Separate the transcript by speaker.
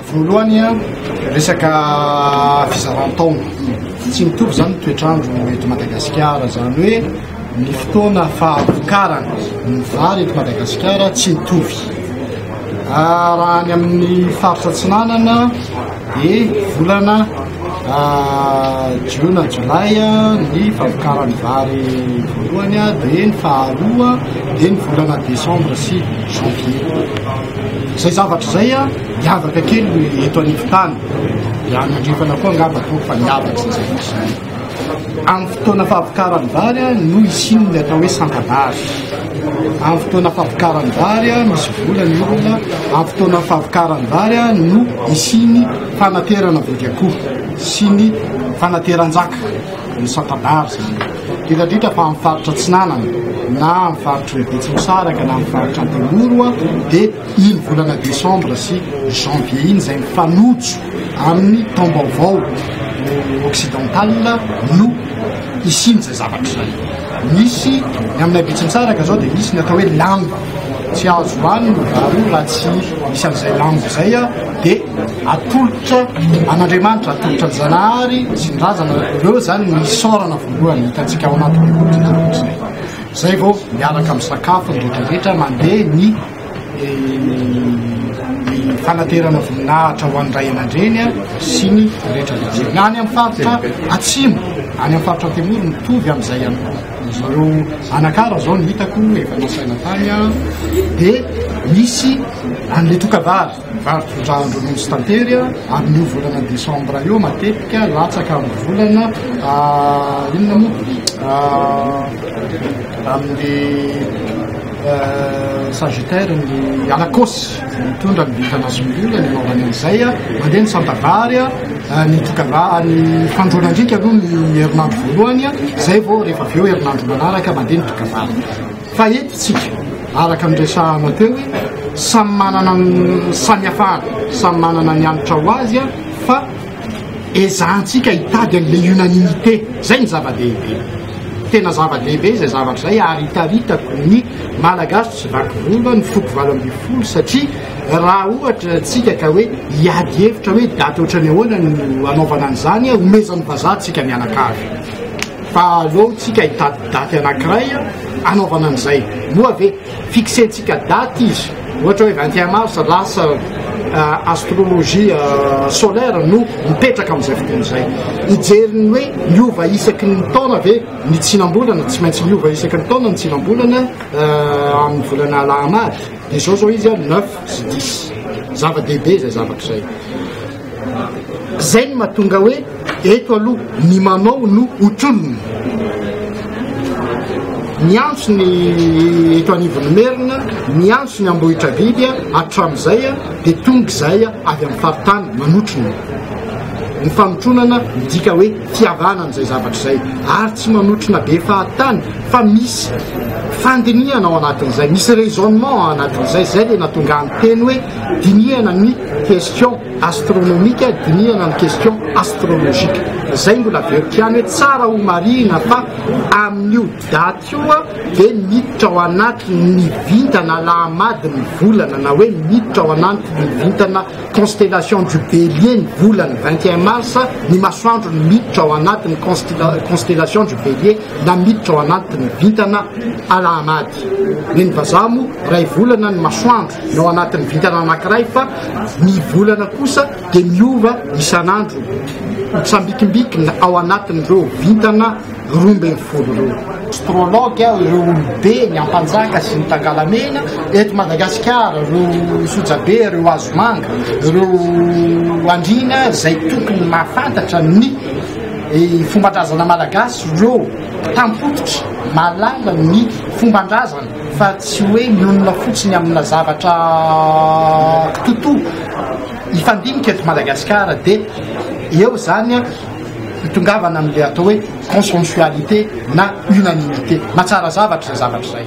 Speaker 1: Voalohany an, resaka fizaran-taona. Tsy mitovy izany ny toetr'andro eto Madagasikara. Izany hoe ny fotoana fahavokarana ny vary eto Madagasikara tsy mitovy. Raha any amin'ny faritra atsinanana Ny volana jiona, jolay, ny famokaran'ny vary voalohany, dia ny faharoa dia ny volana desambra sy janvier. Izay zavatra izay miavaka kely eto anivon-tany, dia any andrefana koa angamba toa fa miavaka izay zavatra izay. Amin'ny fotoana fampikaran'ny vary no hisian'ny atao hoe santa-bary. Amin'ny fotoana fampikaran'ny vary misy vola ny olona. Amin'ny fotoana fampikaran'ny vary no hisian'ny fanaterana vody akoho sy ny fanateran-jaka ny santa-bary izany. Diradritra fa amin'ny faritra Atsinanana na amin'ny faritr'i Betsimisaraka na amin'ny faritra Antemoro dia iny volana desambra sy janvier iny izay mifanojo Amin'ny taom-baovao occidental no hisian'izay zavatra izay. Misy ny aminay Betsimisaraka izao dia misy ny atao hoe lamba. Tsy azo hohanina ny vary raha tsy misy an'izay lamba izay dia atolotra an'Andriamanitra, atolotra ny Zanahary sy ny Razana. Ireo izany no isaorana voalohany hitantsika ao anatin'io zavatra izay. Izay vao miaraka misakafo ny rehetra rehetra mandeha ny. ny fanaterana voninahitra ho an'ny ray aman-dreny sy ny rehetra ny any amin'ny faritra atsimo any amin'ny faritra antemoro mitovy amin'izay ihany koa zareo anakara zao ny hitako efa nasaina tany dia misy an'le tokavavy Mivarotra lojy tantery ary io volana desambra io matetika latsaka amin'ny volana inona moa amin'ny sagittaire ny alakôsy mitondra ny vintana sy ny olona ny anaovany an'izay mandeha ny santa vary ny tokava ny fandroana andriaka aloha ny herinandro voalohany izay vao rehefa avy eo herinandro manaraka mandeha ny tokavany Fa eto isika, araka ny resahana teo hoe samy manana ny samihafana, samy manana ny hanitra ho azy fa ezahantsika hitady an'ilay unanimité, izay no zava-dehibe. Tena zava-dehibe izay zavatra izay ary hitaritako ny Malagasy tsy vaky volo, ny foko valo ambin'ny folo satria raha ohatra isika ka hoe hiady hevitra hoe daty ohatran'ny ahoana no hanaovana an'izany, homezan'ny vazaha antsika mianakavy. Fa aleontsika hitady daty anankiray hanaovana an'izay. Moa ve fixentsika daty izy, ohatra hoe vingt et un mars, lasa astrologie solaire no mipetraka amin'izay fotoana izay. Hijery ny hoe miova isaky ny taona ve ny tsinam-bolana, tsy maintsy miova isaky ny taona ny tsinam-bolana amin'ny volana Alahamady. Dia izao izao izy, neuf sy dix. Zava-dehibe izay zavatra izay. Zay ny matonga hoe eto aloha ny manao no ho tolony. Miantso ny eto anivon'ny merina, miantso ny Ambohitrabiby hatramin'izay dia tonga izay avy amin'ny faritany manotrona. Ny fanotronana midika hoe fiavana an'izay zavatra izay ary tsy manotrona be fahatany fa misy fandinihana ao anatin'izay, misy raisonnement ao anatin'izay, zay le natonga ny teny hoe Dinihana ny question astronomique, dinihana ny question astrologique. Zay mbola averiko ihany hoe tsara ho marihina fa amin'io date io dia miditra ao anatin'ny vintana lahamadin'ny volana na hoe miditra ao anatin'ny vintana constellation du bélier ny volana 21 mars ny masoandro ny miditra ao anatin'ny constellation du bélier na miditra ao anatin'ny vintana alahamady. Ny vazaha moa ray volana ny masoandro. ny ao anatin'ny vintana anankiray fa ny volana kosa dia miova isan'andro sambikimbikina ao anatin'ireo vintana roa ambin'ny folo ireo astrologue aho ireo olobe ny ampanjaka sy ny tangalamena eto madagasikara ireo sojabe ireo azomanga ireo andriana izay tokony mahafantatra ny eh, fombandrazana malagasy ireo tampototra malala ny fombandrazana fa tsy hoe mionona fotsiny amina zavatra toto hifandinika eto Madagasikara dia eo zany hitongavana amle atao hoe consensualité na unanimité matsara zavatra zay zavatra zay